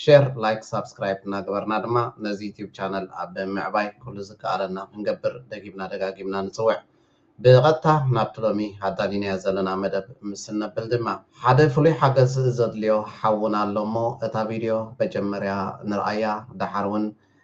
ሼር ላይክ ሳብስክራይብ እናገበርና ድማ ነዚ ዩቲዩብ ቻነል ኣብ ምዕባይ ኩሉ ዝከኣለና ክንገብር ደጊምና ደጋጊምና ንጽውዕ። ብቐጥታ ናብቲ ሎሚ ኣዳሊናዮ ዘለና መደብ ምስ እነብል ድማ። ሓደ ፍሉይ ሓገዝ ዘድልዮ ሓውና ኣሎ እሞ እታ ቪድዮ በጀመርያ ንርኣያ ደሓር ውን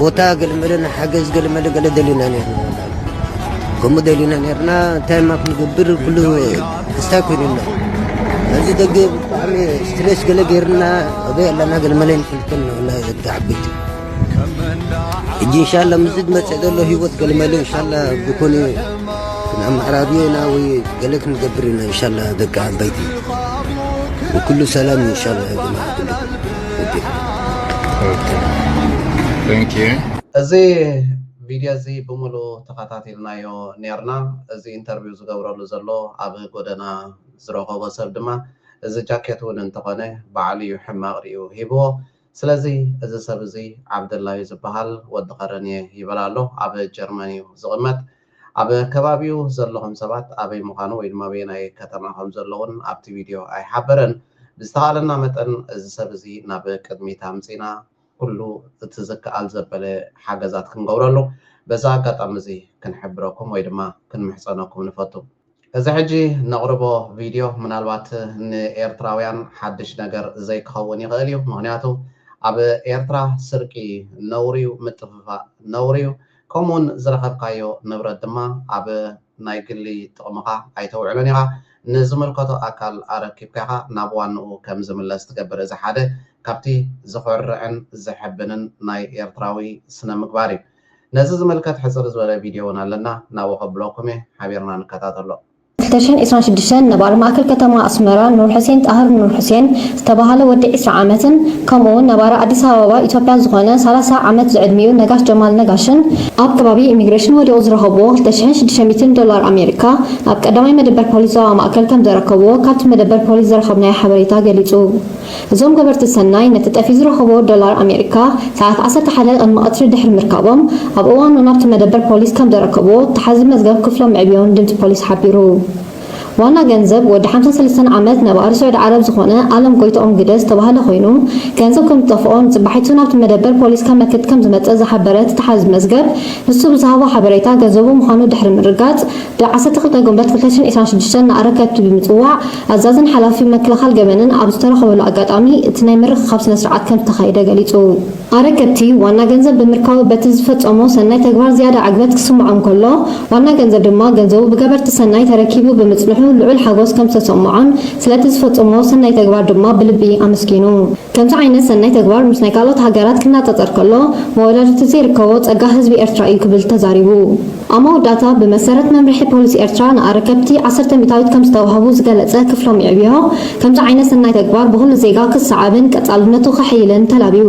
ቦታ ገልመለና ሓገዝ ገልመለ ገለ ደሊና ነርና ከምኡ ደሊና ነርና እንታይ ማ ክንገብር ኩሉ ክስታይ ኮይኑና እዚ ደገ ብጣዕሚ ስትሬስ ገለ ገይርና ኣበይ ኣለና ገልመለ ንፈልጠን ነና ደቂ ዓበይቲ እጂ እንሻላ ምስ ዝመፀእ ዘሎ ሂወት ገልመለ እንሻላ ዝኾነ ክንኣመሓራርዮና ወይ ገለ ክንገብር ኢና እንሻላ ደቂ ዓበይቲ ኩሉ ሰላም እንሻላ ጀማዓ ኩሉ እዚ ቪድዮ እዚ ብሙሉ ተኻታቲልናዮ ኔርና እዚ ኢንተርቪው ዝገብረሉ ዘሎ ኣብ ጎደና ዝረኸቦ ሰብ ድማ እዚ ጃኬት ውን እንተኾነ ባዕሉ ዩ ሕማቕ ሪኡ ሂብዎ ስለዚ እዚ ሰብ እዚ ዓብደላ ዩ ዝብሃል ወዲ ኸረንየ ይበል ኣሎ ኣብ ጀርመን ዩ ዝቕመጥ ኣብ ከባቢኡ ዘለኹም ሰባት ኣበይ ምዃኑ ወይ ድማ ኣበየናይ ከተማ ከም ዘሎ እውን ኣብቲ ቪድዮ ኣይሓበረን። ብዝተኻእለና መጠን እዚ ሰብ እዚ ናብ ቅድሚት ኣምጺእና ኩሉ እቲ ዝከኣል ዘበለ ሓገዛት ክንገብረሉ በዚ ኣጋጣሚ እዚ ክንሕብረኩም ወይ ድማ ክንምሕጸነኩም ንፈቱ። እዚ ሕጂ ነቕርቦ ቪድዮ ምናልባት ንኤርትራውያን ሓድሽ ነገር ዘይክኸውን ይኽእል እዩ፣ ምኽንያቱ ኣብ ኤርትራ ስርቂ ነውሪ'ዩ፣ ምጥፍፋእ ነውሪ'ዩ፣ ከምኡ'ውን ዝረኸብካዮ ንብረት ድማ ኣብ ናይ ግሊ ጥቕምኻ ኣይተውዕሎን ኢኻ፣ ንዝምልከቶ ኣካል ኣረኪብካ ኢኻ ናብ ዋንኡ ከም ዝምለስ ትገብር፣ እዚ ሓደ ካብቲ ዘኹርዕን ዘሐብንን ናይ ኤርትራዊ ስነ-ምግባር እዩ። ነዚ ዝምልከት ሕጽር ዝበለ ቪድዮ እውን ኣለና ናብኡ ከብለኩም እየ ሓቢርና ንከታተሎ። ዕስራን ዕስራን ሽዱሽተን ነባሪ ማእከል ከተማ ኣስመራ ኑርሑሴን ጣህር ኑርሑሴን ዝተባህለ ወዲ ዕስራ ዓመትን ከምኡ'ውን ነባሪ ኣዲስ ኣበባ ኢትዮጵያ ዝኾነ ሰላሳ ዓመት ዝዕድሚኡ ነጋሽ ጀማል ነጋሽን ኣብ ከባቢ ኢሚግሬሽን ወዲቑ ዝረኸብዎ ክልተ ሽሕን ሽዱሽተ ሚእትን ዶላር ኣሜሪካ ኣብ ቀዳማይ መደበር ፖሊስ ዞባ ማእከል ከምዘረከብዎ ካብቲ መደበር ፖሊስ ዝረኸብናዮ ሓበሬታ ገሊጹ። እዞም ገበርቲ ሰናይ ነቲ ጠፊኡ ዝረኸቦ ዶላር ኣሜሪካ ሰዓት ዓሰርተ ሓደ ቅድሚ ቀትሪ ድሕሪ ምርካቦም ኣብ እዋኑ ናብቲ መደበር ፖሊስ ከምዘረከብዎ ተሓዚ መዝገብ ክፍሎም መዕብዮን ድምጺ ፖሊስ ሓቢሩ። ዋና ገንዘብ ወዲ ሓምሳን ሰለስተን ዓመት ነባሪ ሱዕዲ ዓረብ ዝኾነ ኣለም ጎይትኦም ግደ ዝተባህለ ኮይኑ ገንዘብ ከምዝጠፍኦ ንጽባሒቱ ናብቲ መደበር ፖሊስ ከመክት ከምዝመጸ ዝሓበረ እቲ ተሓዚ መዝገብ ንሱ ብዝሃቦ ሓበሬታ ገንዘቡ ምዃኑ ድሕሪ ምርጋጽ ብ ዓሰርተ ክልተ ግንቦት ክልተ ሽሕን ዒስራን ሽዱሽተን ንኣረከብቲ ብምጽዋዕ ኣዛዝን ሓላፊ መክልኻል ገበንን ኣብ ዝተራኸበሉ ኣጋጣሚ እቲ ናይ ምርኽኻብ ስነስርዓት ከምዝተኻየደ ገሊፁ። ኣረከብቲ ዋና ገንዘብ ብምርካቡ በቲ ዝፈፀሞ ሰናይ ተግባር ዝያዳ ዕግበት ክስምዖም ከሎ ዋና ገንዘብ ድማ ገንዘቡ ብገበርቲ ሰናይ ተረኪቡ ብምፅንሑ ልዑል ሓጎስ ከምዝተሰምዖን ስለቲ ዝፈፀምዎ ሰናይ ተግባር ድማ ብልቢ ኣመስጊኑ። ከምዚ ዓይነት ሰናይ ተግባር ምስ ናይ ካልኦት ሃገራት ክናፀፀር ከሎ መወዳድርቲ ዘይርከቦ ፀጋ ህዝቢ ኤርትራ እዩ ክብል ተዛሪቡ። ኣብ መወዳእታ ብመሰረት መምርሒ ፖሊስ ኤርትራ ንኣረከብቲ ዓሰርተ ሚታዊት ከም ዝተዋህቡ ዝገለጸ ክፍሎም ይዕብዮ፣ ከምዚ ዓይነት ሰናይ ተግባር ብኹሉ ዜጋ ክሰዓብን ቀጻልነቱ ከሐይልን ተላብዩ።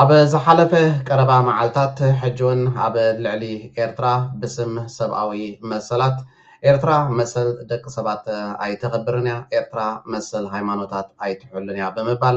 ኣብ ዝሓለፈ ቀረባ መዓልታት ሕጂውን ኣብ ልዕሊ ኤርትራ ብስም ሰብኣዊ መሰላት፣ ኤርትራ መሰል ደቂ ሰባት ኣይተኽብርን እያ፣ ኤርትራ መሰል ሃይማኖታት ኣይትሕሉን እያ ብምባል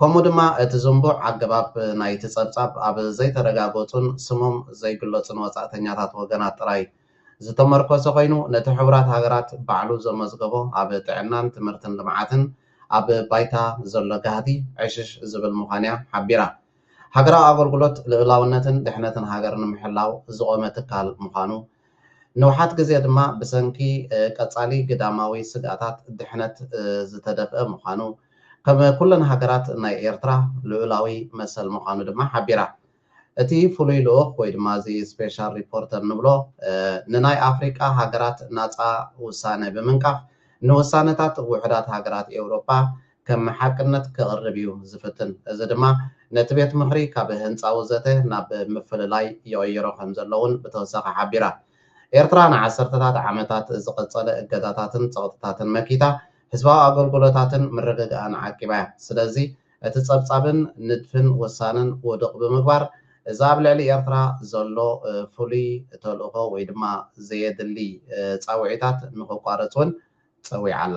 ከምኡ ድማ እቲ ዝንቡዕ ኣገባብ ናይቲ ጸብጻብ ኣብ ዘይተረጋገጹን ስሞም ዘይግለጹን ወጻእተኛታት ወገናት ጥራይ ዝተመርኮሰ ኮይኑ፣ ነቲ ሕቡራት ሃገራት ባዕሉ ዘመዝገቦ ኣብ ጥዕናን ትምህርትን ልምዓትን ኣብ ባይታ ዘሎ ጋህዲ ዕሽሽ ዝብል ምዃኑ'ያ ሓቢራ። ሃገራዊ ኣገልግሎት ልኡላውነትን ድሕነትን ሃገር ንምሕላው ዝቖመ ትካል ምዃኑ፣ ንውሓት ግዜ ድማ ብሰንኪ ቀጻሊ ግዳማዊ ስግኣታት ድሕነት ዝተደፍአ ምዃኑ፣ ከም ኩለን ሃገራት ናይ ኤርትራ ልኡላዊ መሰል ምዃኑ ድማ ሓቢራ። እቲ ፍሉይ ልኡኽ ወይ ድማ እዚ ስፔሻል ሪፖርተር ንብሎ ንናይ ኣፍሪቃ ሃገራት ናጻ ውሳነ ብምንቃፍ ንውሳነታት ውሑዳት ሃገራት ኤውሮጳ ከም ሓቅነት ከቕርብ እዩ ዝፍትን። እዚ ድማ ነቲ ቤት ምኽሪ ካብ ህንጻዊ ዘተ ናብ ምፍልላይ ይቕይሮ ከም ዘሎ እውን ብተወሳኺ ሓቢራ። ኤርትራ ንዓሰርተታት ዓመታት ዝቐጸለ እገዳታትን ጸቕጥታትን መኪታ ህዝባዊ ኣገልግሎታትን ምርግጋኣን ዓቂባ እያ። ስለዚ እቲ ጸብጻብን ንድፍን ውሳነን ውዱቕ ብምግባር እዚ ኣብ ልዕሊ ኤርትራ ዘሎ ፍሉይ ተልእኾ ወይ ድማ ዘየድሊ ጻውዒታት ንኽቋረጽ እውን ጸዊዓ ኣላ።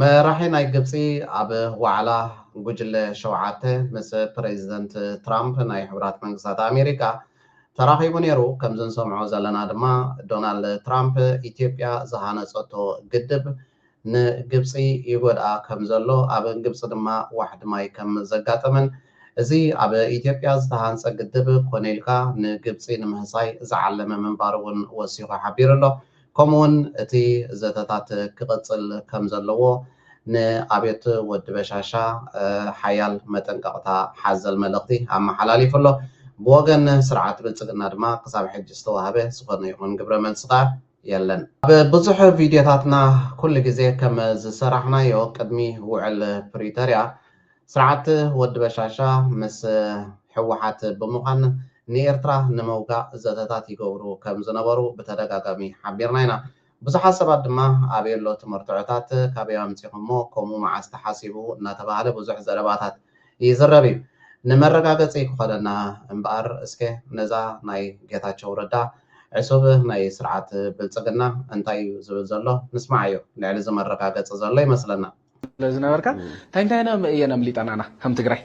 መራሒ ናይ ግብጺ ኣብ ዋዕላ ጉጅለ ሸውዓተ ምስ ፕረዚደንት ትራምፕ ናይ ሕቡራት መንግስታት ኣሜሪካ ተራኺቡ ነይሩ። ከምዚ ንሰምዖ ዘለና ድማ ዶናልድ ትራምፕ ኢትዮጵያ ዝሃነጸቶ ግድብ ንግብጺ ይጎድኣ ከምዘሎ ኣብ ግብጺ ድማ ዋሕዲ ማይ ከም ዘጋጠመን እዚ ኣብ ኢትዮጵያ ዝተሃንጸ ግድብ ኮነ ኢልካ ንግብጺ ንምህሳይ ዝዓለመ ምንባሩ እውን ወሲኹ ሓቢሩ ኣሎ። ከምኡውን እቲ ዘተታት ክቕጽል ከም ዘለዎ ንኣብዮት ወዲ በሻሻ ሓያል መጠንቀቕታ ሓዘል መልእኽቲ ኣመሓላሊፉ ኣሎ። ብወገን ስርዓት ብልጽግና ድማ ክሳብ ሕጂ ዝተዋህበ ዝኾነ ይኹን ግብረ መልሲ ከኣ የለን። ኣብ ብዙሕ ቪድዮታትና ኩሉ ግዜ ከም ዝሰራሕናዮ ቅድሚ ውዕል ፕሪቶርያ ስርዓት ወዲ በሻሻ ምስ ህወሓት ብምዃን ንኤርትራ ንምውጋእ ዘተታት ይገብሩ ከም ዝነበሩ ብተደጋጋሚ ሓቢርና ኢና። ብዙሓት ሰባት ድማ ኣበየሎ እቲ መርትዖታት፣ ካበይ ኣምጺኹሞ፣ ከምኡ መዓስ ተሓሲቡ እናተባህለ ብዙሕ ዘረባታት ይዝረብ እዩ። ንመረጋገጺ ክኾነና እምበኣር እስከ ነዛ ናይ ጌታቸው ረዳ ዕሱብ ናይ ስርዓት ብልጽግና እንታይ እዩ ዝብል ዘሎ ንስምዓዮ። ልዕሊ እዚ መረጋገጺ ዘሎ ይመስለና። ስለ ዝነበርካ እንታይ እንታይ እየን ኣምሊጠናና ከም ትግራይ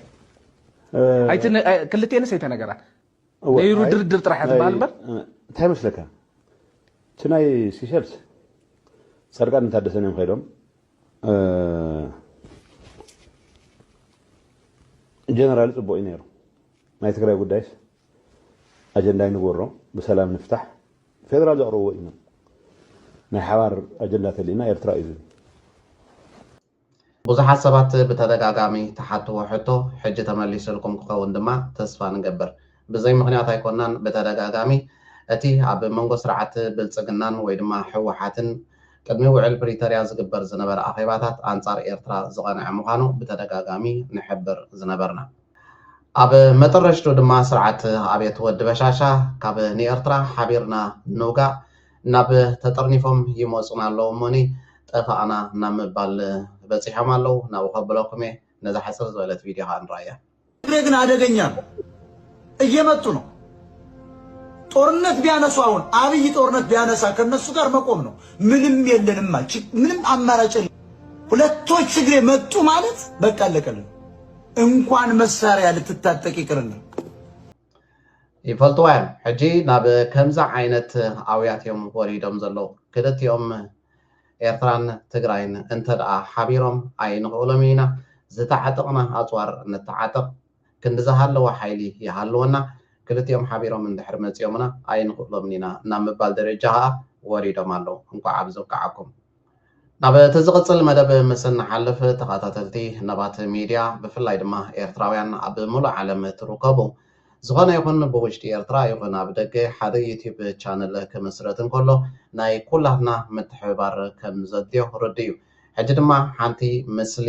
ክልትኤንስ ኣይተነገራ ነይሩ ድርድር ጥራሕ ትበሃል እምበር እንታይ መስለካ እቲ ናይ ሲሸልስ ፃድቃን እንታደሰን እዮም ከይዶም ጀነራል ፅቡቅ እዩ ነይሩ ናይ ትግራይ ጉዳይስ ኣጀንዳ ይንግበሮ ብሰላም ንፍታሕ ፌደራል ዘቕረብዎ እዩ ናይ ሓባር ኣጀንዳ ተልኢና ኤርትራ እዩ ዝብል። ብዙሓት ሰባት ብተደጋጋሚ ትሓትዎ ሕቶ ሕጂ ተመሊስልኩም ክኸውን ድማ ተስፋ ንገብር። ብዘይ ምኽንያት ኣይኮናን ብተደጋጋሚ እቲ ኣብ መንጎ ስርዓት ብልጽግናን ወይ ድማ ህወሓትን ቅድሚ ውዕል ፕሪተርያ ዝግበር ዝነበረ ኣኼባታት ኣንጻር ኤርትራ ዝቐንዐ ምዃኑ ብተደጋጋሚ ንሕብር ዝነበርና። ኣብ መጠረሽቱ ድማ ስርዓት ኣብየት ወዲ በሻሻ ካብ ንኤርትራ ሓቢርና ንውጋእ ናብ ተጠርኒፎም ይመጹና ኣለዉ እሞኒ ጠፋእና ናብ ምባል በጺሖም ኣለዉ ናብኡ ከብለኩም እየ ነዛ ሕጽር ዝበለት ቪድዮ ከኣ ንርኣያ። ትግሬ ግን ኣደገኛ ነው እየመጡ ነው ጦርነት ቢያነሱ አሁን አብይ ጦርነት ቢያነሳ ከነሱ ጋር መቆም ነው። ምንም የለንም ምንም አማራጭ ሁለቶች ትግሬ መጡ ማለት በቃ አለቀልን። እንኳን መሳርያ ልትታጠቅ ይቅርና ይፈልጥዋ እዮም ሕጂ ናብ ከምዚ ዓይነት ኣውያት እዮም ወሪዶም ዘለዉ ክልቲኦም ኤርትራን ትግራይን እንተደኣ ሓቢሮም ኣይንኽእሎም ኢና ዝተዓጠቕና ኣፅዋር ንተዓጠቕ ክንዲ ዝሃለወ ሓይሊ ይሃልወና ክልቲኦም ሓቢሮም እንድሕር መፂኦምና ኣይንኽእሎምን ኢና ናብ ምባል ደረጃ ከዓ ወሪዶም ኣለዉ እንኳዕ ኣብዚ ኣብቅዓኩም ናብ እቲ ዝቕጽል መደብ ምስ እንሓልፍ ተኸታተልቲ ነባት ሚድያ ብፍላይ ድማ ኤርትራውያን ኣብ ምሉእ ዓለም እትርከቡ ዝኾነ ይኹን ብውሽጢ ኤርትራ ይኹን ኣብ ደገ ሓደ ዩትዩብ ቻነል ክምስረት እንከሎ ናይ ኩላትና ምትሕብባር ከም ዘድልዮ ርዱእ'ዩ ሕጂ ድማ ሓንቲ ምስሊ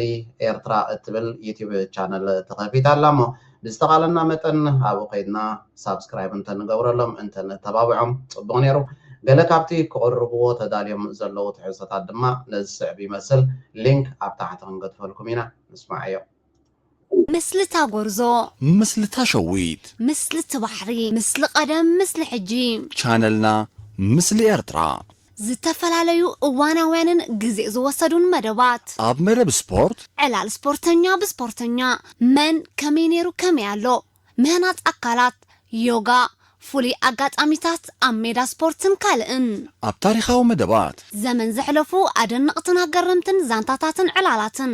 ኤርትራ እትብል ዩትዩብ ቻነል ተኸፊታ ኣላ እሞ ብዝተኻለና መጠን ኣብኡ ከይድና ሳብስክራይብ እንተ ንገብረሎም እንተ ነተባብዖም ጽቡቕ ነይሩ። ገለ ካብቲ ክቕርብዎ ተዳልዮም ዘለዉ ትሕዝቶታት ድማ ነዚ ስዕብ ይመስል ሊንክ ኣብ ታሕቲ ክንገድፈልኩም ኢና። ንስማዓዮ። ምስሊ እታ ጎርዞ። ምስሊ እታ ሸዊት። ምስሊ እቲ ባሕሪ። ምስሊ ቀደም ምስሊ ሕጂ። ቻነልና ምስሊ ኤርትራ። ዝተፈላለዩ እዋናውያንን ግዜ ዝወሰዱን መደባት። ኣብ መረብ ስፖርት። ዕላል ስፖርተኛ ብስፖርተኛ፣ መን ከመይ ነይሩ ከመይ ኣሎ፣ ምህናጽ ኣካላት፣ ዮጋ፣ ፍሉይ ኣጋጣሚታት ኣብ ሜዳ ስፖርትን ካልእን። ኣብ ታሪኻዊ መደባት። ዘመን ዘሕለፉ ኣደነቕትን ኣገረምትን ዛንታታትን ዕላላትን።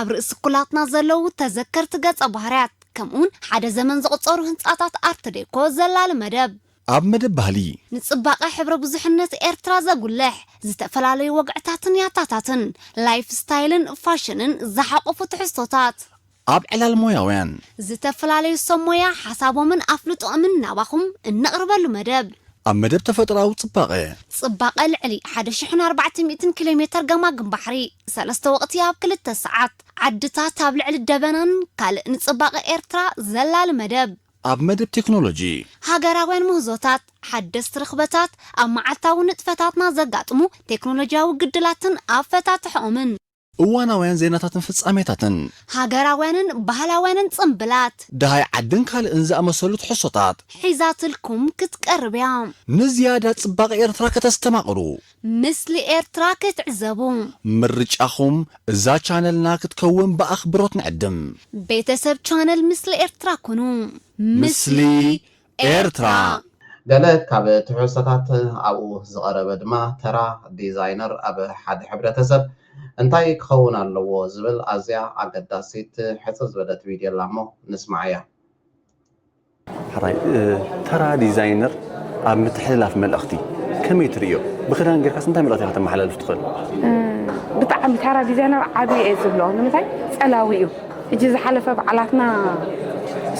ኣብ ርእሲ ኩላትና ዘለዉ ተዘከርቲ ገጸ ባህርያት፣ ከምኡውን ሓደ ዘመን ዘቑጸሩ ህንጻታት ኣርትዴኮ ዘላሊ መደብ። ኣብ መደብ ባህሊ። ንጽባቐ ሕብረ ብዙሕነት ኤርትራ ዘጉልሕ፣ ዝተፈላለዩ ወግዕታትን ያታታትን፣ ላይፍ ስታይልን ፋሽንን ዝሓቖፉ ትሕዝቶታት። ኣብ ዕላል ሞያውያን። ዝተፈላለዩ ሰብ ሞያ ሓሳቦምን ኣፍልጦኦምን ናባኹም እነቕርበሉ መደብ። ኣብ መደብ ተፈጥሮኣዊ ጽባቐ። ጽባቐ ልዕሊ ሓደ ሽሕን ኣርባዕተ ሚእትን ኪሎሜተር ገማግም ባሕሪ፣ ሰለስተ ወቕቲ ኣብ ክልተ ሰዓት፣ ዓድታት ኣብ ልዕሊ ደበናን ካልእ ንጽባቐ ኤርትራ ዘላሊ መደብ። ኣብ መደብ ቴክኖሎጂ። ሃገራውያን ምህዞታት፣ ሓደስቲ ርኽበታት፣ ኣብ መዓልታዊ ንጥፈታትና ዘጋጥሙ ቴክኖሎጂያዊ ግድላትን ኣፈታትሕኦምን። እዋናውያን ዜናታትን ፍጻሜታትን። ሃገራውያንን ባህላውያንን ጽምብላት። ደሃይ ዓድን ካልእን ዝኣመሰሉ ትሕዝቶታት። ሒዛትልኩም ክትቀርብ እያ። ንዝያዳ ጽባቐ ኤርትራ ከተስተማቕሩ። ምስሊ ኤርትራ ክትዕዘቡ። ምርጫኹም እዛ ቻነልና ክትከውን ብኣኽብሮት ንዕድም። ቤተሰብ ቻነል ምስሊ ኤርትራ ኩኑ። ምስሊ ኤርትራ! ገለ ካብ ትሕዝቶታት ኣብኡ ዝቐረበ ድማ ተራ ዲዛይነር ኣብ ሓደ ሕብረተሰብ እንታይ ክኸውን ኣለዎ ዝብል ኣዝያ ኣገዳሲት ሕጽር ዝበለት ቪድዮ'ላ'ሞ ንስምዓያ። ሐራይ ተራ ዲዛይነር ኣብ ምትሕልላፍ መልእኽቲ ከመይ ትርእዮ? ብኽዳን ጌርካስ እንታይ መልእኽቲ ኢኻ ከተመሓላልፍ ትኽእል? ብጣዕሚ ተራ ዲዛይነር ዓብዪ እየ ዝብሎ ንምንታይ ፀላዊ እዩ ሕጂ ዝሓለፈ በዓላትና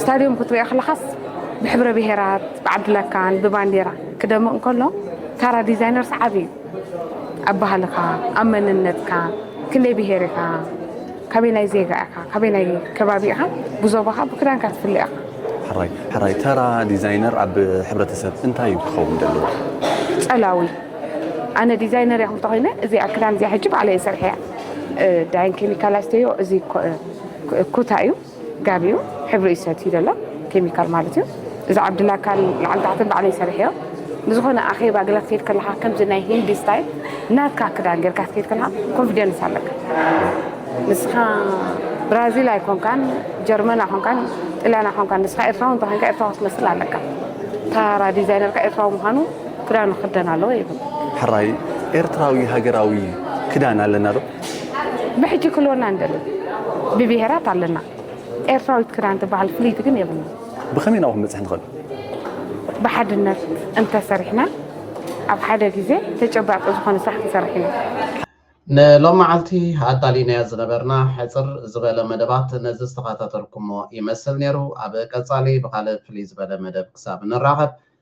ስታድዮም ክትሪኦ ከለኻስ ብሕብረ ብሄራት ብዓድለካን ብባንዴራ ክደምቕ እንከሎ ተራ ዲዛይነር ሰዓቢ እዩ ኣብ ባህልኻ ኣብ መንነትካ ክንደይ ብሄር ኢኻ ካበየናይ ዜጋ ኢኻ? ካበየናይ ከባቢ ኢኻ? ብዞባኻ ብክዳንካ ትፍለ ኢኻ። ሕራይ ሕራይ ተራ ዲዛይነር ኣብ ሕብረተሰብ እንታይ እዩ ክኸውን ዘለዎ? ጸላዊ ኣነ ዲዛይነር እያ ክብልታ ኮይነ እዚኣ ክዳን እዚኣ ሕጂ ባዕለይ እየ ሰርሐያ ዳይን ኬሚካል ኣስተዮ እዚ ኩታ እዩ ጋብዩ ሕብሪ እዩ ሰትዩ ዘሎ ኬሚካል ማለት እዩ እዚ ዓብዲ ላካል ላዕሊ ታሕትን ባዕለይ ሰሪሐዮ ንዝኾነ ኣኼባ ገለ ክትከይድ ከለካ ከምዚ ናይ ሂንዲ ስታይል ናትካ ክዳን ጌርካ ክትከይድ ከለካ ኮንፊደንስ ኣለካ ንስኻ ብራዚል ኣይኮንካን ጀርመን ኣይኮንካን ጥልያን ኣይኮንካን ንስኻ ኤርትራዊ እንተኮንካ ኤርትራዊ ክትመስል ኣለካ ታራ ዲዛይነርካ ኤርትራዊ ምዃኑ ክዳኑ ክደን ኣለዎ ይብል ሕራይ ኤርትራዊ ሃገራዊ ክዳን ኣለና ዶ ብሕጂ ክልወና ንደሊ ብብሄራት ኣለና ኤርትራዊት ክዳን ትበሃል ፍልይቲ ግን የብልና። ብኸመይ ናብኡ ክንበጽሕ ንኽእል? ብሓድነት እንተሰሪሕና ኣብ ሓደ ግዜ ተጨባጢ ዝኾነ ስራሕ ክንሰርሕ ኢና። ንሎም መዓልቲ ኣዳሊናዮ ዝነበርና ሕጽር ዝበለ መደባት ነዚ ዝተኸታተልኩሞ ይመስል ኔሩ። ኣብ ቀጻሊ ብኻልእ ፍልይ ዝበለ መደብ ክሳብ ንራኸብ